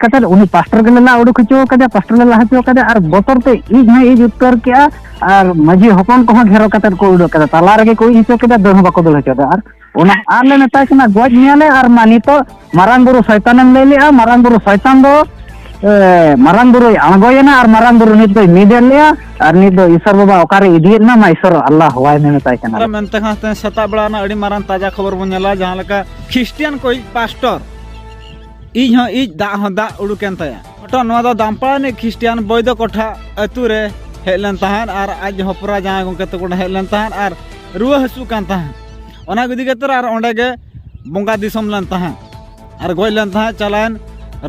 ᱠᱟᱛᱮ ᱩᱱᱤ ᱯᱟᱥᱴᱚᱨ ᱜᱮᱞᱮ ᱞᱟ ᱩᱰᱩᱠ ᱦᱚᱪᱚ ᱠᱟᱫᱮᱭᱟ ᱯᱟᱥᱴᱚᱨ ᱞᱮ ᱞᱟ ᱦᱚᱪᱚ ᱠᱟᱫᱮᱭᱟ ᱟᱨ ᱵᱚᱛᱚᱨ ᱛᱮ ᱤᱡ ᱦᱚᱸ ᱤᱡ ᱩᱛᱟᱹᱨ ᱠᱮᱜᱼᱟ ᱟᱨ ᱢᱟᱹᱡᱷᱤ ᱦᱚᱯᱚᱱ ᱠᱚᱦᱚᱸ ᱜᱷᱮᱨᱚ ᱠᱟᱛᱮ ᱠᱚ ᱩᱰᱩᱠ ᱠᱮᱫᱟ ᱛᱟᱞᱟ ᱨᱮᱜᱮ ᱠᱚ ᱤᱡ ᱦᱚᱪᱚ ᱠᱮᱫᱟ ᱫᱟᱹᱲ ᱦᱚᱸ ᱵᱟᱠᱚ ᱫᱟᱹᱲ ᱦᱚᱪᱚ ᱟᱨ ᱚᱱᱟ ᱟᱨ ᱞᱮ ᱢᱮᱛᱟᱭ ᱠᱟᱱᱟ ᱜᱚᱡ ᱢᱮᱭᱟᱞᱮ ᱟᱨ ᱢᱟ ᱱᱤᱛᱚᱜ ᱢᱟᱨᱟᱝ ᱵᱩᱨᱩ ᱥᱚᱭᱛᱟᱱᱮᱢ ᱞᱟᱹᱭ ᱞᱮᱜᱼᱟ ᱢᱟᱨᱟᱝ ᱵᱩᱨᱩ ᱥᱚᱭᱛᱟᱱ ᱫᱚ ᱢᱟᱨᱟᱝ ᱵᱩᱨᱩᱭ ᱟᱬᱜᱚᱭᱮᱱᱟ ᱟᱨ ᱢᱟᱨᱟᱝ ᱵᱩᱨᱩ ᱱᱤᱛ ᱫᱚᱭ ᱢᱤᱫᱮᱫ ᱞᱮᱭᱟ ᱟᱨ ᱱᱤᱛ ᱫᱚ ᱤᱥᱚᱨ ᱵᱟᱵᱟ ᱚᱠᱟᱨᱮ ᱤᱫᱤᱭᱮᱫ ᱢᱮ ᱢᱟ ᱤᱥᱚᱨ ᱟᱞᱞᱟ ᱦᱚᱣᱟᱭ ᱢᱮ ᱢᱮᱛᱟᱭ ᱠᱟᱱᱟ ᱢᱮᱱᱛᱮ ᱠᱷᱟᱱ ᱥᱮᱛᱟᱜ ᱵᱮᱲᱟ ᱨᱮᱱᱟᱜ ᱟᱹᱰᱤ ᱢᱟᱨᱟᱝ ᱛᱟᱡᱟ ᱠᱷᱚᱵᱚᱨ ᱵᱚᱱ ᱧᱮᱞᱟ ᱡᱟᱦᱟᱸ ᱞᱮᱠᱟ ᱠᱷᱨᱤᱥᱴᱤᱭᱟᱱ ᱠᱚ ᱯᱟᱥᱴᱚᱨ ᱤᱡ ᱦᱚᱸ ᱤᱡ ᱫᱟᱜ ᱦᱚᱸ ᱫᱟᱜ ᱩᱰᱩᱠᱮᱱ ᱛᱟᱭᱟ ᱦᱚᱴᱚ ᱱᱚᱣᱟ ᱫᱚ ᱫᱟᱢᱯᱟᱲᱟ ᱨᱤᱱᱤᱡ ᱠᱷᱨᱤᱥᱴᱤᱭᱟᱱ ᱵᱚᱭᱫᱚ ᱠᱚᱴᱷᱟ ᱟᱹᱛᱩ ᱨᱮ ᱦᱮᱡ ᱞᱮᱱ ᱛᱟᱦᱮᱸᱫ ᱟᱨ ᱟᱡ ᱦᱚᱯᱨᱟ ᱡᱟᱶᱟᱭ ᱜᱚᱢᱠᱮ ᱛᱟᱠᱚ ᱚᱸᱰᱮ ᱦᱮᱡ ᱞᱮᱱ ᱛᱟᱦᱮᱸᱫ ᱟᱨ ᱨᱩᱣᱟᱹ ᱦᱟᱹᱥᱩᱜ ᱠᱟᱱ ᱛᱟᱦᱮᱸᱫ ᱚᱱᱟ ᱤᱫᱤ ᱠᱟᱛᱮ ᱟᱨ ᱚᱸᱰᱮ ᱜᱮ ᱵᱚᱸᱜᱟ ᱫᱤᱥᱚᱢ ᱞᱮᱱ ᱛᱟᱦᱮᱸᱫ ᱟᱨ ᱜᱚᱡ ᱞᱮᱱ ᱛᱟᱦᱮᱸᱫ ᱪᱟᱞᱟᱣᱮᱱ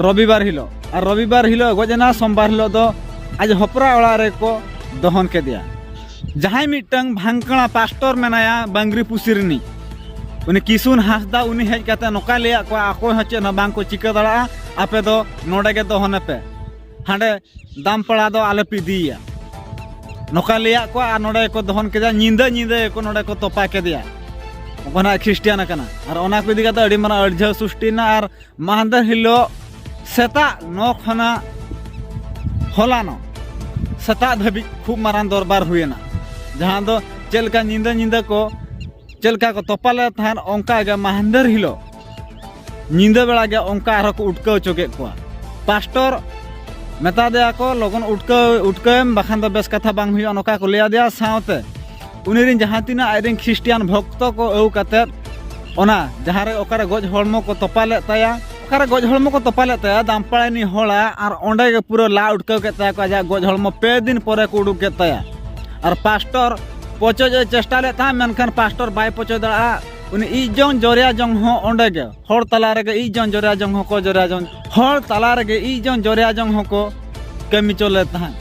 ᱨᱚᱵᱤᱵᱟᱨ ᱦᱤᱞᱳᱜ ᱟᱨ ᱨᱚᱵᱤᱵᱟᱨ ᱦᱤᱞᱳᱜ ᱜᱚᱡ ᱮᱱᱟ ᱥᱳᱢᱵᱟᱨ ᱦᱤᱞᱳᱜ ᱫᱚ ᱟᱡ ᱦᱚᱯᱨᱟ ᱚᱲᱟᱜ ᱨᱮᱠᱚ ᱫᱚᱦᱚᱱ ᱠᱮᱫᱮᱭᱟ ᱡᱟᱦᱟᱸᱭ ᱢᱤᱫᱴᱟᱝ ᱵᱷᱟᱝᱠᱲᱟ ᱯᱟᱥᱴᱚᱨ ᱢᱮᱱᱟᱭᱟ ᱵᱟᱝᱜᱨᱤ ᱯᱩᱥᱤ ᱨᱤᱱᱤᱡ ᱩᱱᱤ ᱠᱤᱥᱩᱱ ᱦᱟᱸᱥᱫᱟ ᱩᱱᱤ ᱦᱮᱡ ᱠᱟᱛᱮ ᱱᱚᱠᱟ ᱞᱟᱹᱭᱟ ᱠᱚ ᱟᱠᱚ ᱦᱚᱸ ᱪᱮᱫ ᱦᱚᱸ ᱵᱟᱝ ᱠᱚ ᱪᱤᱠᱟᱹ ᱫᱟᱲᱟᱜᱼᱟ ᱟᱯᱮ ᱫᱚ ᱱᱚᱰᱮ ᱜᱮ ᱫᱚᱦᱚᱱᱮ ᱯᱮ ᱦᱟᱸᱰᱮ ᱫᱟᱢᱯᱟᱲᱟ ᱫᱚ ᱟᱞᱮ ᱯᱮ ᱤᱫᱤᱭᱟ ᱱᱚᱠᱟ ᱞᱟᱹᱭᱟ ᱠᱚ ᱟᱨ ᱱᱚᱰᱮ ᱠᱚ ᱫᱚᱦᱚᱱ ᱠᱮᱫᱟ ᱧᱤᱫᱟᱹ ᱧᱤᱫᱟᱹ ᱠᱚ ᱱᱚᱰᱮ ᱠᱚ ᱛᱚᱯᱟ ᱠᱮᱫᱮᱭᱟ ᱚᱱᱟ ᱠᱷᱨᱤᱥᱴᱤᱭᱟᱱ ᱠᱟᱱᱟ ᱟᱨ ᱚᱱᱟ ᱠᱚ ᱤᱫᱤ ᱠᱟᱛᱮ ᱟᱹᱰᱤ ᱢᱟᱨᱟᱝ ᱟᱹᱲᱡᱷᱟᱹᱣ ᱥᱩᱥᱴᱤᱭᱮᱱᱟ ᱟᱨ ᱢᱟᱦᱫᱮᱨ ᱦᱤᱞᱳᱜ ᱥᱮᱛᱟᱜ ᱱᱚ ᱠᱷᱚᱱᱟᱜ ᱦᱚᱞᱟᱱᱚ ᱥᱮᱛᱟᱜ ᱫᱷᱟᱹᱵᱤᱡ ᱠᱷᱩᱵ ᱢᱟᱨᱟᱝ ᱫᱚᱨᱵᱟᱨ ᱦᱩᱭᱮᱱᱟ ᱡᱟᱦᱟᱸ ᱫᱚ ᱪᱮᱫ ᱞᱮᱠᱟ ᱧᱤᱫᱟᱹ ᱧᱤᱫᱟᱹ ᱠᱚ ᱪᱮᱫ ᱞᱮᱠᱟ ᱠᱚ ᱛᱚᱯᱟ ᱞᱮᱫ ᱛᱟᱦᱮᱸᱫ ᱚᱱᱠᱟ ᱜᱮ ᱢᱟᱦᱫᱮᱨ ᱦᱤᱞᱳᱜ ᱧᱤᱫᱟᱹ ᱵᱮᱲᱟ ᱜᱮ ᱚᱱᱠᱟ ᱟᱨᱦᱚᱸ ᱠᱚ ᱩᱴᱠᱟᱹᱣ ᱦᱚᱪᱚ ᱠᱮᱫ ᱠᱚᱣᱟ ᱯᱟᱥᱴᱚᱨ ᱢᱮᱛᱟ ᱫᱮᱭᱟ ᱠᱚ ᱞᱚᱜᱚᱱ ᱩᱴᱠᱟᱹᱣ ᱩᱴᱠᱟᱹᱣᱮᱢ ᱵᱟᱠᱷᱟᱱ ᱫᱚ ᱵᱮᱥ ᱠᱟᱛᱷᱟ ᱵᱟᱝ ᱦᱩᱭᱩᱜᱼᱟ ᱱᱚᱝᱠᱟ ᱠᱚ ᱞᱟᱹᱭ ᱟᱫᱮᱭᱟ ᱥᱟᱶᱛᱮ ᱩᱱᱤ ᱨᱮᱱ ᱡᱟᱦᱟᱸ ᱛᱤᱱᱟᱹᱜ ᱟᱡ ᱨᱮᱱ ᱠᱷᱨᱤᱥᱴᱤᱭᱟᱱ ᱵᱷᱚᱠᱛᱚ ᱠᱚ ᱟᱹᱣ ᱠᱟᱛᱮ ᱚᱱᱟ ᱡᱟᱦᱟᱸ ᱨᱮ ᱚᱠᱟᱨᱮ ᱜᱚᱡ ᱦᱚᱲᱢᱚ ᱠᱚ ᱛᱚᱯᱟ ᱞᱮᱫ ᱛᱟᱭᱟ ᱚᱠᱟᱨᱮ ᱜᱚᱡ ᱦᱚᱲᱢᱚ ᱠᱚ ᱛᱚᱯᱟ ᱞᱮᱫ ᱛᱟᱭᱟ ᱫᱟᱢᱯᱟᱲᱟ ᱨᱤᱱᱤᱡ ᱦᱚᱲᱟ ᱟᱨ ᱚᱸᱰᱮ ᱜᱮ ᱯᱩᱨᱟᱹ ᱞᱟ ᱩᱴᱠᱟᱹᱣ ᱠᱮᱫ ᱛᱟᱭᱟ ᱠᱚ ᱟᱡᱟᱜ ᱜᱚᱡ ᱦᱚᱲᱢᱚ ᱯᱮ ᱫᱤᱱ ᱯᱚᱨᱮ ᱠᱚ ᱩᱰᱩᱠ ᱠᱮᱫ ᱛᱟᱭᱟ ᱟᱨ ᱯᱟᱥᱴᱚᱨ ᱯᱚᱪᱚᱡ ᱮ ᱪᱮᱥᱴᱟ ᱞᱮᱫ ᱛᱟᱦᱮᱸᱫ ᱢᱮᱱᱠᱷᱟᱱ ᱯᱟᱥᱴᱚᱨ ᱵᱟᱭ ᱯᱚᱪᱚ ᱫᱟᱲᱮᱭᱟᱜᱼᱟ ᱩᱱᱤ ᱤᱡ ᱡᱚᱝ ᱡᱚᱨᱭᱟ ᱡᱚᱝ ᱦᱚᱸ ᱚᱸᱰᱮ ᱜᱮ ᱦᱚᱲ ᱛᱟᱞᱟ ᱨᱮᱜᱮ ᱤᱡ ᱡᱚᱝ ᱡᱚᱨᱭᱟ ᱡᱚᱝ ᱦᱚᱸᱠᱚ ᱡᱚᱨᱭᱟ ᱡᱚᱝ ᱦᱚᱲ ᱛᱟᱞᱟ ᱨᱮᱜᱮ ᱤᱡ ᱡᱚᱝ ᱡᱚᱨᱮᱭᱟ ᱡᱚᱝ ᱦᱚᱸᱠᱚ ᱠᱟᱹᱢᱤ ᱪᱚ ᱞᱮᱫ ᱛᱟᱦᱮᱸᱫ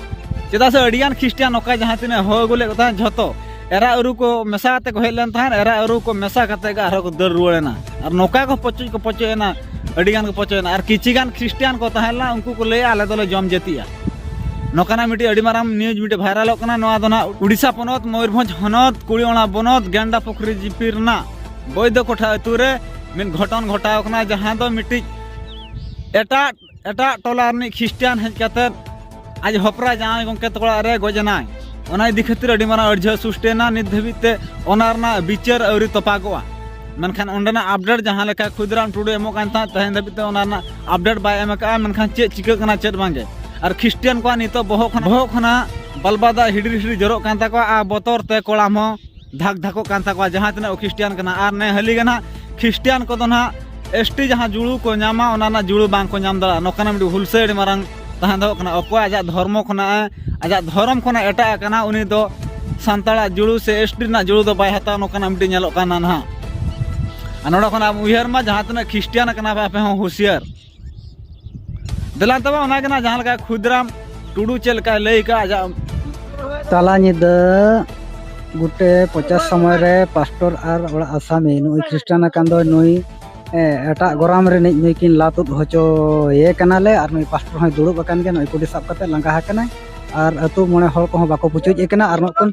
ᱪᱮᱫᱟᱜ ᱥᱮ ᱟᱹᱰᱤᱜᱟᱱ ᱠᱷᱨᱤᱥᱴᱤᱭᱟᱱ ᱱᱚᱝᱠᱟ ᱡᱟᱦᱟᱸ ᱛᱤᱱᱟᱹᱜ ᱦᱚᱦᱚ ᱟᱹᱜᱩ ᱞᱮᱫ ᱠᱚ ᱛᱟᱦᱮᱸᱫ ᱡᱷᱚᱛᱚ ᱮᱨᱟ ᱟᱹᱨᱩ ᱠᱚ ᱢᱮᱥᱟ ᱠᱟᱛᱮ ᱠᱚ ᱦᱮᱡ ᱞᱮᱱ ᱛᱟᱦᱮᱸᱫ ᱮᱨᱟ ᱟᱹᱨᱩ ᱠᱚ ᱢᱮᱥᱟ ᱠᱟᱛᱮ ᱜᱮ ᱟᱨᱦᱚᱸ ᱠᱚ ᱫᱟᱹᱲ ᱨᱩᱣᱟᱹᱲ ᱮᱱᱟ ᱟᱨ ᱱᱚᱝᱠᱟ ᱠᱚ ᱯᱚᱪᱚᱡ ᱠᱚ ᱯᱚᱪᱚᱡ ᱮᱱᱟ ᱟᱹᱰᱤᱜᱟᱱ ᱠᱚ ᱯᱚᱪᱚᱡ ᱮᱱᱟ ᱟᱨ ᱠᱤᱪᱷᱤ ᱜᱟᱱ ᱠᱷᱨᱤᱥᱴᱤᱭᱟᱱ ᱠᱚ ᱛᱟᱦᱮᱸ ᱞᱮᱱᱟ ᱩᱱᱠᱩ ᱠᱚ ᱞᱟᱹᱭᱟ ᱟᱞᱮ ᱫᱚᱞᱮ ᱡᱚᱢ ᱡᱟᱹᱛᱤᱜᱼᱟ ᱱᱚᱝᱠᱟᱱᱟᱜ ᱢᱤᱫᱴᱤᱡ ᱟᱹᱰᱤ ᱢᱟᱨᱟᱝ ᱱᱤᱭᱩᱡᱽ ᱢᱤᱫᱴᱤᱡ ᱵᱷᱟᱭᱨᱟᱞᱚᱜ ᱠᱟᱱᱟ ᱱᱚᱣᱟ ᱫᱚ ᱱᱟᱜ ᱩᱰᱤᱥᱟ ᱯᱚᱱᱚᱛ ᱢᱚᱭᱩᱨᱵᱷᱚᱸᱡᱽ ᱦᱚᱱᱚᱛ ᱠᱩᱲᱤᱚᱲᱟ ᱵᱚᱱᱚᱛ ᱜᱮᱱᱰᱟ ᱯᱩᱠᱷᱨᱤ ᱡᱤᱯᱤ ᱨᱮᱱᱟᱜ ᱵᱚᱭᱫᱚ ᱠᱚᱴᱷᱟ ᱟᱹᱛᱩ ᱨᱮ ᱢᱤᱫ ᱜᱷᱚᱴᱚᱱ ᱜᱷᱚᱴᱟᱣ ᱠᱟᱱᱟ ᱡᱟᱦᱟᱸ ᱫᱚ ᱢᱤᱫᱴᱤᱡ ᱮᱴᱟᱜ ᱮᱴᱟᱜ ᱴᱚᱞᱟ ᱨᱤᱱᱤᱡ ᱠᱷᱨᱤᱥᱴᱤᱭᱟᱱ ᱦᱮᱡ ᱠᱟᱛᱮ ᱟᱡ ᱦᱚᱯᱨᱟ ᱡᱟᱶᱟᱭ ᱜᱚᱢᱠᱮ ᱛᱟᱠᱚ ᱚᱲᱟᱜ ᱨᱮ ᱜᱚᱡ ᱮᱱᱟᱭ ᱚᱱᱟ ᱤᱫᱤ ᱠᱷᱟᱹᱛᱤᱨ ᱟᱹᱰᱤ ᱢᱟᱨᱟᱝ ᱟᱹᱲᱡᱷᱟᱹ ᱥᱩᱥᱴᱮᱱᱟ ᱱᱤᱛ ᱫᱷᱟᱹᱵᱤᱡ ᱛᱮ ᱚᱱᱟ ᱨᱮᱱᱟᱜ ᱵᱤᱪᱟᱹᱨ ᱟᱹᱣᱨᱤ ᱛᱚᱯᱟᱜᱚᱜᱼᱟ ᱢᱮᱱᱠᱷᱟᱱ ᱚᱸᱰᱮᱱᱟᱜ ᱟᱯᱰᱮᱴ ᱡᱟᱦᱟᱸ ᱞᱮᱠᱟ ᱠᱷᱩᱫᱤᱨᱟᱢ ᱴᱩᱰᱩ ᱮᱢᱚᱜ ᱠᱟᱱ ᱛᱟᱦᱮᱸᱫ ᱛᱮᱦᱮᱧ ᱫᱷᱟᱹᱵᱤᱡ ᱛᱮ ᱚᱱᱟ ᱨᱮᱱᱟᱜ ᱟᱯᱰᱮᱴ ᱵᱟᱭ ᱮᱢ ᱟᱠᱟᱫᱼᱟ ᱢᱮᱱᱠᱷᱟᱱ ᱪᱮᱫ ᱪᱤᱠᱟᱹᱜ ᱠᱟᱱᱟ ᱪᱮᱫ ᱵᱟᱝᱜᱮ ᱟᱨ ᱠᱷᱨᱤᱥᱴᱤᱭᱟᱱ ᱠᱚᱣᱟᱜ ᱱᱤᱛᱚᱜ ᱵᱚᱦᱚᱜ ᱠᱷᱚᱱᱟᱜ ᱵᱚᱦᱚᱜ ᱠᱷᱚᱱᱟᱜ ᱵᱟᱞᱵᱟᱫᱟ ᱦᱤᱰᱤᱨ ᱦᱤᱰᱤᱨ ᱡᱚᱨᱚᱜ ᱠᱟᱱ ᱛᱟᱠᱚᱣᱟ ᱟᱨ ᱵᱚᱛᱚᱨ ᱛᱮ ᱠᱚᱲᱟᱢ ᱦᱚᱸ ᱫᱷᱟᱠ ᱫᱷᱟᱠᱚᱜ ᱠᱟᱱ ᱛᱟᱠᱚᱣᱟ ᱡᱟᱦᱟᱸ ᱛᱤᱱᱟᱹᱜ ᱠᱷᱨᱤᱥᱴᱤᱭᱟᱱ ᱠᱟᱱᱟ ᱟᱨ ᱱᱮ ᱦᱟᱹᱞᱤ ᱜᱮ ᱱᱟᱦᱟᱜ ᱠᱷᱨᱤᱥᱴᱤᱭᱟᱱ ᱠᱚᱫᱚ ᱱᱟᱦᱟᱜ ᱮᱥ ᱴᱤ ᱡᱟᱦᱟᱸ ᱡᱩᱲᱩ ᱠᱚ ᱧᱟᱢᱟ ᱚᱱᱟ ᱨᱮᱱᱟᱜ ᱡᱩᱲᱩ ᱵᱟᱝ ᱠᱚ ᱧᱟᱢ ᱫᱟᱲᱮᱭᱟᱜᱼᱟ ᱱᱚᱝᱠᱟᱱᱟᱜ ᱢᱤᱫᱴᱤᱡ ᱦᱩᱞᱥᱟᱹᱭ ᱟᱹᱰᱤ ᱢᱟᱨᱟᱝ ᱛᱟᱦᱮᱸ ᱫᱚᱦᱚᱜ ᱠᱟᱱᱟ ᱚᱠᱚᱭ ᱟᱡᱟᱜ ᱫᱷᱚᱨᱢᱚ ᱠᱷᱚᱱᱟᱜ ᱟᱡᱟᱜ ᱫᱷᱚᱨᱚᱢ ᱠᱷᱚᱱᱟᱜ ᱮᱴᱟᱜ ᱟᱠᱟᱱᱟ ᱩᱱᱤ ᱫᱚ ᱥᱟᱱᱛᱟᱲᱟᱜ ᱡᱩᱲᱩ ᱥᱮ ᱮᱥ ᱴᱤ ᱨᱮᱱᱟᱜ ᱡᱩᱲᱩ ᱫᱚ ᱵᱟᱭ ᱦᱟᱛᱟᱣᱟ ᱱᱚᱝᱠᱟᱱᱟᱜ ᱢᱤᱫᱴᱤᱡ ᱧᱮᱞᱚᱜ ᱠᱟᱱᱟ ᱱᱟᱦᱟᱜ ᱟᱨ ᱱᱚᱰᱮ ᱠᱷᱚᱱᱟᱜ ᱩᱭᱦᱟᱹᱨ ᱢᱟ ᱡᱟᱦᱟᱸ ᱛᱤᱱᱟᱹᱜ ᱠᱷᱨᱤᱥᱴᱤᱭᱟᱱ ᱠᱟᱱᱟ ᱯᱮ ᱟᱯᱮ ᱦᱚᱸ ᱦᱩᱥᱤᱭᱟᱨ ᱫᱮᱞᱟ ᱛᱚᱵᱮ ᱚᱱᱟ ᱜᱮ ᱱᱟᱜ ᱡᱟᱦᱟᱸ ᱞᱮᱠᱟ ᱠᱷᱩᱫᱨᱟᱢ ᱴᱩᱰᱩ ᱪᱮᱫ ᱞᱮᱠᱟᱭ ᱞᱟᱹᱭ ᱠᱟᱜ ᱟᱡᱟᱜ ᱛᱟᱞᱟ ᱧᱤᱫᱟᱹ ᱜᱩᱴᱮ ᱯᱚᱪᱟᱥ ᱥᱚᱢᱚᱭ ᱨᱮ ᱯᱟᱥᱴᱚᱨ ᱟᱨ ᱚᱲᱟᱜ ᱟᱥᱟᱢᱤ ᱱᱩᱭ ᱠᱷᱨᱤᱥᱴᱟᱱ ᱟᱠᱟᱱ ᱫᱚ ᱱᱩᱭ ᱮᱴᱟᱜ ᱜᱚᱨᱟᱢ ᱨᱤᱱᱤᱡ ᱱᱩᱭ ᱠᱤᱱ ᱞᱟ ᱛᱩᱫ ᱦᱚᱪᱚᱭᱮ ᱠᱟᱱᱟᱞᱮ ᱟᱨ ᱱᱩᱭ ᱯᱟᱥᱴᱚᱨ ᱦᱚᱸᱭ ᱫᱩᱲᱩᱵ ᱟᱠᱟᱱ ᱜᱮᱭᱟ ᱱᱩᱭ ᱠᱩᱰᱤ ᱥᱟᱵ ᱠᱟᱛᱮ ᱞᱟᱸᱜᱟ ᱟᱠᱟᱱᱟᱭ ᱟᱨ ᱟᱹᱛᱩ ᱢᱚᱬᱮ ᱦᱚᱲ ᱠᱚᱦᱚᱸ ᱵᱟᱠᱚ ᱯᱩᱪᱩᱡ ᱮ ᱠᱟᱱᱟ ᱟᱨ ᱢᱤᱫᱴᱟᱝ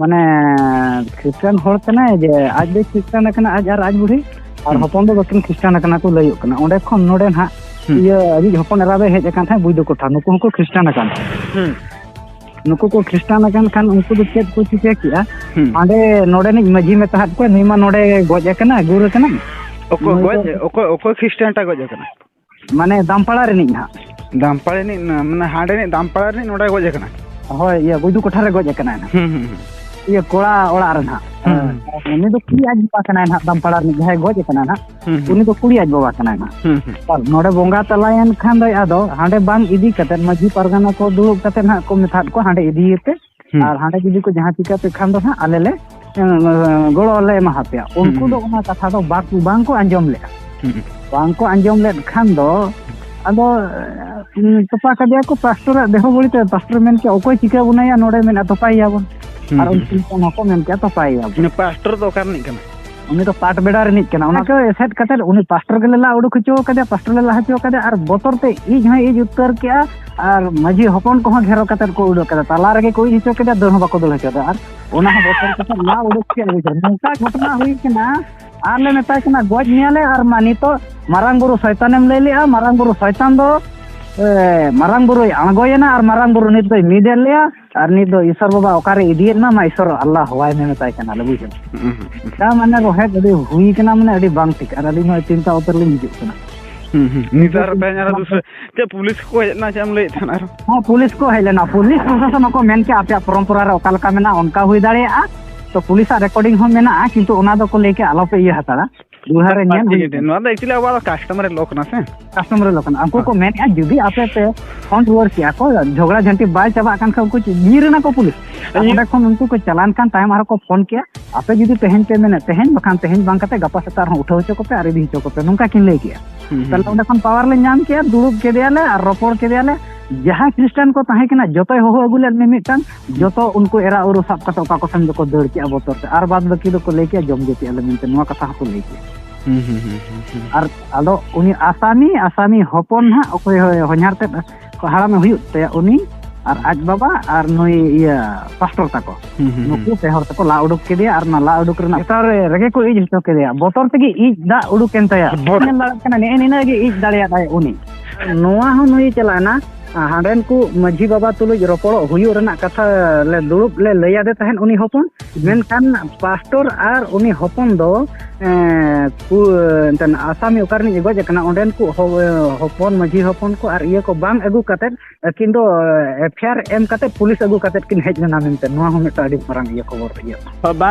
ᱢᱟᱱᱮ ᱠᱷᱨᱤᱥᱴᱟᱱ ᱦᱚᱲ ᱠᱟᱱᱟᱭ ᱡᱮ ᱟᱡ ᱫᱚ ᱠᱷᱨᱤᱥᱴᱟᱱ ᱠᱟᱱᱟ ᱟᱡ ᱟᱨ ᱟᱡ ᱵᱩᱲᱦᱤ ᱟᱨ ᱦᱚᱯᱚᱱ ᱫᱚ ᱵᱟᱹᱠᱤᱱ ᱠᱷᱨᱤᱥᱴᱟᱱ ᱠᱟᱱᱟ ᱠᱚ ᱞᱟᱹᱭᱚᱜ ᱠᱟᱱᱟ ᱚᱸᱰᱮ ᱠᱷᱚᱱ ᱱᱚᱰᱮ ᱱᱟᱦᱟᱜ ᱤᱭᱟᱹ ᱟᱹᱡᱤᱡ ᱦᱚᱯᱚᱱ ᱮᱨᱟ ᱫᱚᱭ ᱦᱮᱡ ᱟᱠᱟᱱ ᱛᱟᱦᱮᱸᱫ ᱵᱩᱡᱽ ᱫᱚᱠᱚ ᱴᱷᱟᱶ ᱱᱩᱠᱩ ᱦᱚᱸᱠᱚ ᱠᱷᱨᱤᱥᱴᱟᱱ ᱟᱠᱟᱱ ᱛᱟᱦᱮᱸᱫ ᱱᱩᱠᱩ ᱠᱚ ᱠᱷᱨᱤᱥᱴᱟᱱ ᱟᱠᱟᱱ ᱠᱷᱟᱱ ᱩᱱᱠᱩ ᱫᱚ ᱪᱮᱫ ᱠᱚ ᱪᱤᱠᱟᱹ ᱠᱮᱜᱼᱟ ᱦᱟᱸᱰᱮ ᱱᱚᱰᱮᱱᱤᱡ ᱢᱟᱺᱡᱷᱤ ᱢᱮᱛᱟ ᱦᱟᱫ ᱠᱚᱣᱟ ᱱᱩᱭ ᱢᱟ ᱱᱚᱰᱮ ᱜᱚᱡ ᱟᱠᱟᱱᱟ ᱜᱩᱨ ᱟᱠᱟᱱᱟ ᱚᱠᱚᱭ ᱜᱚᱡ ᱚᱠᱚᱭ ᱚᱠᱚᱭ ᱠᱷᱨᱤᱥᱴᱟᱱ ᱴᱟᱜ ᱜᱚᱡ ᱟᱠᱟᱱᱟ ᱢᱟᱱᱮ ᱫᱟᱢᱯᱟᱲᱟ ᱨᱤᱱᱤᱡ ᱦᱟᱸᱜ ᱫᱟᱢᱯᱟᱲᱟ ᱨᱤᱱᱤᱡ ᱢᱟᱱᱮ ᱦᱟᱸᱰᱮ ᱨᱤᱱᱤᱡ ᱫᱟᱢᱯᱟᱲᱟ ᱨᱤᱱᱤᱡ ᱱᱚᱰᱮ ᱜᱚᱡ ᱟᱠᱟᱱᱟ ᱦᱳᱭ ᱤᱭᱟᱹ ᱵᱩᱫᱩ ᱠᱚᱴᱷᱟ ᱨᱮ ᱜᱚᱡ ᱟᱠᱟᱱᱟᱭ ᱦᱟᱸᱜ ᱦᱩᱸ ᱦᱩᱸ ᱤᱭᱟᱹ ᱠᱚᱲᱟ ᱚᱲᱟᱜ ᱨᱮ ᱦᱟᱸᱜ ᱩᱱᱤ ᱫᱚ ᱠᱩᱲᱤ ᱟᱡ ᱵᱟᱵᱟ ᱠᱟᱱᱟᱭ ᱦᱟᱸᱜ ᱫᱟᱢᱯᱟᱲᱟ ᱨᱤᱱᱤᱡ ᱡᱟᱦᱟᱸᱭ ᱜᱚᱡ ᱟᱠᱟᱱᱟᱭ ᱦᱟᱸᱜ ᱩᱱᱤ ᱫᱚ ᱠᱩᱲᱤ ᱟᱡ ᱵᱟᱵᱟ ᱠᱟᱱᱟᱭ ᱦᱟᱸᱜ ᱟᱨ ᱱᱚᱰᱮ ᱵᱚᱸᱜᱟ ᱛᱟᱞᱟᱭᱮᱱ ᱠᱷᱟᱱ ᱫᱚ ᱟᱫᱚ ᱦᱟᱸᱰᱮ ᱵᱟᱝ ᱤᱫᱤ ᱠᱟᱛᱮᱫ ᱢᱟᱺᱡᱷᱤ ᱯᱟᱨᱜᱟᱱᱟ ᱠᱚ ᱫᱩᱲᱩᱵ ᱠᱟᱛᱮᱫ ᱦᱟᱸᱜ ᱠᱚ ᱢᱮᱛᱟᱫ ᱠᱚᱣᱟ ᱦᱟᱸᱰᱮ ᱤᱫᱤᱭᱮᱯᱮ ᱦᱩᱸ ᱟᱨ ᱦᱟᱸᱰᱮ ᱡᱩᱫᱤ ᱠᱚ ᱡᱟᱦᱟᱸ ᱪᱤᱠᱟᱹ ᱯᱮ ᱠᱷᱟᱱ ᱫᱚ ᱦᱟᱸᱜ ᱟᱞᱮ ᱞᱮ ᱜᱚᱲᱚ ᱞᱮ ᱮᱢᱟ ᱦᱟᱯᱮᱭᱟ ᱦᱩᱸ ᱩᱱᱠᱩ ᱫᱚ ᱦᱩᱸ ᱚᱱᱟ ᱠᱟᱛᱷᱟ ᱫᱚ ᱵᱟᱠᱚ ᱵᱟᱝᱠᱚ ᱟᱸᱡᱚᱢ ᱞᱮᱜᱼᱟ ᱦᱩᱸ ᱵᱟᱝᱠᱚ ᱟᱸᱡᱚᱢ ᱞᱮᱫ ᱠᱷᱟᱱ ᱫᱚ ᱟᱫᱚ ᱛᱚᱯᱟ ᱠᱮᱫᱮᱭᱟ ᱠᱚ ᱯᱟᱥᱴᱚᱨᱟᱜ ᱫᱮᱦᱚ ᱵᱟᱹᱲᱤᱡ ᱛᱟᱭᱟ ᱯᱟᱥᱴᱚᱨ ᱢᱮᱱ ᱠᱮᱫᱟ ᱚᱠᱚᱭ ᱪᱤᱠᱟᱹ ᱵᱚᱱᱟᱭᱟ ᱱᱚᱰᱮ ᱢᱮᱱᱟᱜᱼᱟ ᱛᱚᱯᱟᱭᱮᱭᱟᱵᱚᱱ ᱦᱩᱸ ᱟᱨ ᱦᱩᱸ ᱩᱱᱠᱩ ᱦᱚᱯᱚᱱ ᱦᱚᱸᱠᱚ ᱢᱮᱱ ᱠᱮᱜᱼᱟ ᱛᱚᱯᱟᱭᱮᱭᱟᱵᱚᱱ ᱯᱟᱥᱴᱚᱨ ᱫᱚ ᱚᱠᱟ ᱨᱤᱱᱤᱡ ᱠᱟᱱᱟᱭ ᱩᱱᱤ ᱫᱚ ᱯᱟᱴ ᱵᱮᱲᱟ ᱨᱤᱱᱤᱡ ᱠᱟᱱᱟ ᱚᱱᱟ ᱠᱚ ᱮᱥᱮᱫ ᱠᱟᱛᱮ ᱩᱱᱤ ᱯᱟᱥᱴᱚᱨ ᱜᱮᱞᱮ ᱞᱟ ᱩᱰᱩᱠ ᱦᱚᱪᱚ ᱠᱟᱫᱮᱭᱟ ᱯᱟᱥᱴᱚᱨ ᱞᱮ ᱞᱟ ᱦᱚᱪᱚ ᱠᱟᱫᱮᱭᱟ ᱟᱨ ᱵᱚᱛᱚᱨ ᱛᱮ ᱤᱡ ᱦᱚᱸ ᱤᱡ ᱩᱛᱟᱹᱨ ᱠᱮᱜᱼᱟ ᱟᱨ ᱢᱟᱹᱡᱷᱤ ᱦᱚᱯᱚᱱ ᱠᱚᱦᱚᱸ ᱜᱷᱮᱨᱚ ᱠᱟᱛᱮ ᱠᱚ ᱩᱰᱩᱠ ᱠᱟᱫᱟ ᱛᱟᱞᱟ ᱨᱮᱜᱮ ᱠᱚ ᱤᱡ ᱦᱚᱪᱚ ᱠᱮᱫᱟ ᱫᱟᱹᱲ ᱦᱚᱸ ᱵᱟᱠᱚ ᱫᱟᱹᱲ ᱦᱚᱪᱚ ᱠᱮᱫᱟ ᱟᱨ ᱚᱱᱟ ᱦᱚᱸ ᱵᱚᱛᱚᱨ ᱠᱟᱛᱮ ᱞᱟ ᱩᱰᱩᱠ ᱠᱮᱫ ᱵᱩᱡᱷᱟᱹᱣ ᱱᱚᱝᱠᱟ ᱜᱷᱚᱴᱚᱱᱟ ᱦᱩᱭ ᱠᱟᱱᱟ ᱟᱨ ᱞᱮ ᱢᱮᱛᱟᱭ ᱠᱟᱱᱟ ᱜᱚᱡ ᱢᱮᱭᱟᱞᱮ ᱟᱨ ᱢᱟ ᱱᱤᱛᱚᱜ ᱢᱟᱨᱟᱝ ᱵᱩᱨᱩ ᱥᱚᱭᱛᱟᱱᱮᱢ ᱞᱟᱹᱭ ᱞᱮᱜᱼᱟ ᱢᱟᱨᱟᱝ ᱵᱩᱨᱩ ᱥᱚᱭᱛᱟᱱ ᱫᱚ ᱢᱟᱨᱟᱝ ᱵᱩᱨᱩᱭ ᱟᱬᱜᱚᱭᱮᱱᱟ ᱟᱨ ᱢᱟᱨᱟᱝ ᱵᱩᱨᱩ ᱱᱤᱛ ᱫᱚᱭ ᱢᱤᱫ ᱮᱫ ᱞᱮᱭᱟ ᱟᱨ ᱱᱤᱛ ᱫᱚ ᱤᱥᱚᱨ ᱵᱟᱵᱟ ᱚᱠᱟᱨᱮ ᱤᱫᱤᱭᱮᱫ ᱢᱟ ᱤᱥᱚᱨ ᱟᱞᱞᱟ ᱦᱚᱣᱟᱭ ᱢᱮ ᱢᱮᱛᱟᱭ ᱠᱟᱱᱟ ᱞᱮ ᱵᱩᱡᱷᱟᱹᱣ ᱛᱟ ᱢᱟᱱᱮ ᱨᱚᱦᱮᱫ ᱟᱹᱰᱤ ᱦᱩᱭ ᱠᱟᱱᱟ ᱢᱟᱱᱮ ᱟᱹᱰᱤ ᱵᱟᱝ ᱴᱷᱤᱠ ᱟᱨ ᱟᱹᱞᱤᱧ ᱦᱚᱸ ᱪᱤᱱᱛᱟ ᱩᱛᱟᱹᱨ ᱞᱤᱧ ᱦᱤᱡᱩᱜ ᱠᱟᱱᱟ ᱱᱤᱛᱟᱨ ᱛᱮᱦᱮᱧ ᱟᱨᱚ ᱫᱩᱥᱨᱟᱹ ᱪᱮᱫ ᱯᱩᱞᱤᱥ ᱠᱚ ᱦᱮᱡ ᱞᱮᱱᱟ ᱪᱮᱫ ᱮᱢ ᱞᱟᱹᱭᱮᱫ ᱛᱟᱦᱮᱱᱟ ᱟᱨᱚ ᱦᱮᱸ ᱯᱩᱞᱤᱥ ᱠᱚ ᱦᱮᱡ ᱞᱮᱱᱟ ᱯᱩᱞᱤᱥ ᱯᱨᱚᱥᱟᱥᱚᱱ ᱦᱚᱸᱠᱚ ᱢᱮᱱ ᱠᱮᱜᱼᱟ ᱟᱯᱮᱭᱟᱜ ᱯᱚᱨᱚᱢᱯᱚᱨᱟ ᱨᱮ ᱚᱠᱟ ᱞᱮᱠᱟ ᱢᱮᱱᱟᱜᱼᱟ ᱚᱱᱠᱟ ᱦᱩᱭ ᱫᱟᱲᱮᱭᱟᱜᱼᱟ ᱛᱚ ᱯᱩᱞᱤᱥᱟᱜ ᱨᱮᱠᱚᱨᱰᱤᱝ ᱦᱚᱸ ᱢᱮᱱᱟᱜᱼᱟ ᱠᱤᱱᱛᱩ ᱚᱱᱟ ᱫᱚᱠᱚ ᱞᱟᱹᱭ ᱠᱮᱜᱼᱟ ᱟᱞᱚᱯᱮ ᱤᱭᱟᱹ ᱦᱟᱛᱟᱲᱟ ᱵᱤᱦᱟᱨ ᱨᱮ ᱧᱮᱞ ᱦᱩᱭ ᱱᱚᱣᱟ ᱫᱚ ᱮᱠᱪᱩᱭᱮᱞᱤ ᱟᱵᱚᱣᱟᱜ ᱠᱟᱥᱴᱚᱢᱟᱨ ᱞᱚ ᱠᱟᱱᱟ ᱥᱮ ᱠᱟᱥᱴᱚᱢᱟᱨ ᱞᱚ ᱠᱟᱱᱟ ᱩᱱᱠᱩ ᱠᱚ ᱦᱮᱸ᱾ ᱢᱮᱱᱮᱫᱼᱟ ᱡᱩᱫᱤ ᱟᱯᱮ ᱯᱮ ᱯᱷᱳᱱ ᱨᱩᱣᱟᱹᱲ ᱠᱮᱜᱼᱟ ᱠᱚ ᱡᱷᱚᱜᱽᱲᱟ ᱡᱷᱟᱹᱱᱴᱤ ᱵᱟᱭ ᱪᱟᱵᱟᱜ ᱠᱟᱱ ᱠᱷᱟᱱ ᱩᱱᱠᱩ ᱡᱤᱭᱟᱹ ᱨᱮᱱᱟᱜ ᱠᱚ ᱯᱩᱞᱤᱥ ᱟᱨ ᱤᱭᱟᱹ- ᱚᱸᱰᱮ ᱠᱷᱚᱱ ᱩᱱᱠᱩ ᱠᱚ ᱪᱟᱞᱟᱱ ᱠᱟᱱ ᱛᱟᱭᱚᱢ ᱟᱨᱦᱚᱸ ᱠᱚ ᱯᱷᱳᱱ ᱠᱮᱜᱼᱟ ᱟᱯᱮ ᱡᱩᱫᱤ ᱛᱮᱦᱮᱧ ᱯᱮ ᱢᱮᱱᱮᱫ ᱛᱮᱦᱮᱧ ᱵᱟᱠᱷᱟᱱ ᱛᱮᱦᱮᱧ ᱵᱟᱝ ᱠᱟᱛᱮ ᱜᱟᱯᱟ ᱥᱮᱛᱟᱜ ᱨᱮᱦᱚᱸ ᱩᱴᱷᱟᱹᱣ ᱦᱚᱪᱚ ᱠᱚᱯᱮ ᱟᱨ ᱤᱫᱤ ᱦᱚᱪᱚ ᱠᱚᱯᱮ ᱱᱚᱝᱠᱟ ᱠᱤᱱ ᱞᱟᱹᱭ ᱠᱮᱜᱼᱟ ᱦᱩᱸ, ᱦᱩᱸ, ᱛᱟᱦᱚᱞᱮ ᱚᱸᱰᱮ ᱠᱷᱚᱱ ᱯᱟᱣᱟᱨ ᱞᱮ ᱧᱟᱢ ᱠᱮᱜᱼᱟ ᱫᱩᱲᱩᱵ ᱠᱮᱫᱮᱭᱟᱞᱮ ᱟᱨ ᱨᱚᱯᱚᱲ ᱠᱮᱫᱮᱭᱟᱞᱮ ᱡᱟᱦᱟᱸᱭ ᱠᱷᱨᱤᱥᱴᱟᱱ ᱠᱚ ᱛᱟᱦᱮᱸ ᱠᱟᱱᱟ ᱡᱚᱛᱚᱭ ᱦᱚᱦᱚ ᱟᱹᱜᱩ ᱞᱮᱫ ᱢᱤᱢᱤᱫᱴᱟᱝ ᱡᱚᱛᱚ ᱩᱱᱠᱩ ᱮᱨᱟ ᱩᱨᱩ ᱥᱟᱵ ᱠᱟᱛᱮ ᱚᱠᱟ ᱠᱚᱥᱮᱱ ᱫᱚᱠᱚ ᱫᱟᱹᱲ ᱠᱮᱜᱼᱟ ᱵᱚᱛᱚᱨ ᱛᱮ ᱟᱨ ᱵᱟᱫ ᱵᱟᱹᱠᱤ ᱫᱚᱠᱚ ᱞᱟᱹᱭ ᱠᱮᱜᱼᱟ ᱡᱚᱢ ᱡᱟᱹᱛᱤ ᱟᱞᱮ ᱢᱮᱱᱛᱮ ᱱᱚᱣᱟ ᱠᱟᱛᱷᱟ ᱦᱚᱸᱠᱚ ᱞᱟᱹᱭ ᱠᱮᱜᱼᱟ ᱟᱨ ᱟᱫᱚ ᱩᱱᱤ ᱟᱥᱟᱢᱤ ᱟᱥᱟᱢᱤ ᱦᱚᱯᱚᱱ ᱦᱟᱸᱜ ᱚᱠᱚᱭ ᱦᱚᱧᱦᱟᱨ ᱛᱮᱫ ᱦᱟᱲᱟᱢᱮ ᱦᱩᱭᱩᱜ ᱛᱟᱭᱟ ᱩᱱᱤ ᱟᱨ ᱟᱡ ᱵᱟᱵᱟ ᱟᱨ ᱱᱩᱭ ᱤᱭᱟᱹ ᱯᱟᱥᱴᱚᱨ ᱛᱟᱠᱚ ᱱᱩᱠᱩ ᱯᱮ ᱦᱚᱲ ᱛᱮᱠᱚ ᱞᱟ ᱩᱰᱩᱠ ᱠᱮᱫᱮᱭᱟ ᱟᱨ ᱚᱱᱟ ᱞᱟ ᱩᱰᱩᱠ ᱨᱮᱱᱟᱜ ᱵᱚᱛᱚᱨ ᱨᱮᱜᱮ ᱠᱚ ᱤᱡ ᱦᱚᱪᱚ ᱠᱮᱫᱮᱭᱟ ᱵᱚᱛᱚᱨ ᱛᱮᱜᱮ ᱤᱡ ᱫᱟᱜ ᱩᱰᱩᱠᱮᱱ ᱛᱟᱭᱟ ᱧᱮᱞ ᱫᱟᱲᱮᱭᱟᱜ ᱠᱟᱱᱟ ᱱᱮᱜᱼᱮ ᱱᱤᱱᱟᱹᱜ ᱜᱮ ᱤᱡ ᱫᱟᱲᱮᱭᱟᱫᱟᱭ ᱩᱱᱤ ᱱᱚᱣᱟ ᱦᱚᱸ ᱱᱩᱭ ᱪᱟᱞᱟᱣᱮᱱᱟ ᱦᱟᱸᱰᱮᱱ ᱠᱚ ᱢᱟᱹᱡᱷᱤ ᱵᱟᱵᱟ ᱛᱩᱞᱩᱡ ᱨᱚᱯᱚᱲᱚᱜ ᱦᱩᱭᱩᱜ ᱨᱮᱱᱟᱜ ᱠᱟᱛᱷᱟ ᱞᱮ ᱫᱩᱲᱩᱵ ᱞᱮ ᱞᱟᱹᱭ ᱟᱫᱮ ᱛᱟᱦᱮᱸᱫ ᱩᱱᱤ ᱦᱚᱯᱚᱱ ᱢᱮᱱᱠᱷᱟᱱ ᱯᱟᱥᱴᱚᱨ ᱟᱨ ᱩᱱᱤ ᱦᱚᱯᱚᱱ ᱫᱚ ᱮᱱᱛᱮᱱ ᱟᱥᱟᱢᱤ ᱚᱠᱟ ᱨᱤᱱᱤᱡ ᱜᱚᱡ ᱟᱠᱟᱱᱟ ᱚᱸᱰᱮᱱ ᱠᱚ ᱦᱚᱯᱚᱱ ᱢᱟᱹᱡᱷᱤ ᱦᱚᱯᱚᱱ ᱠᱚ ᱟᱨ ᱤᱭᱟᱹ ᱠᱚ ᱵᱟᱝ ᱟᱹᱜᱩ ᱠᱟᱛᱮᱫ ᱟᱹᱠᱤᱱ ᱫᱚ ᱮᱯᱷᱭᱟᱨ ᱮᱢ ᱠᱟᱛᱮᱫ ᱯᱩᱞᱤᱥ ᱟᱹᱜᱩ ᱠᱟᱛᱮᱫ ᱠᱤᱱ ᱦᱮᱡ ᱞᱮᱱᱟ ᱢᱮᱱᱛᱮ ᱱᱚᱣᱟ ᱦᱚᱸ ᱢᱤᱫᱴᱟᱝ ᱟᱹᱰᱤ ᱢᱟᱨᱟᱝ ᱤᱭᱟᱹ ᱠᱷᱚᱵᱚᱨ ᱤᱭᱟᱹ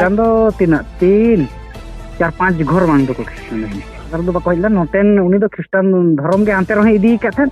ᱪᱟᱸᱫᱚ ᱛᱤᱱᱟᱹᱜ ᱛᱤᱱ ᱪᱟᱨ ᱯᱟᱸᱪ ᱜᱷᱚᱨ ᱵᱟᱝ ᱫᱚᱠᱚ ᱠᱷᱨᱤᱥᱴᱟᱱ ᱫᱚ ᱵᱟᱠᱚ ᱦᱮᱡ ᱞᱮᱱᱟ ᱱᱚᱛᱮᱱ ᱩᱱᱤ ᱫᱚ ᱠᱷᱨᱤᱥᱴᱟᱱ ᱫᱷᱚᱨᱚᱢ ᱜᱮ ᱦᱟᱱᱛᱮ ᱨᱮᱦᱚᱸᱭ ᱤᱫᱤ ᱟᱠᱟᱫ ᱛᱟᱦᱮᱸᱫ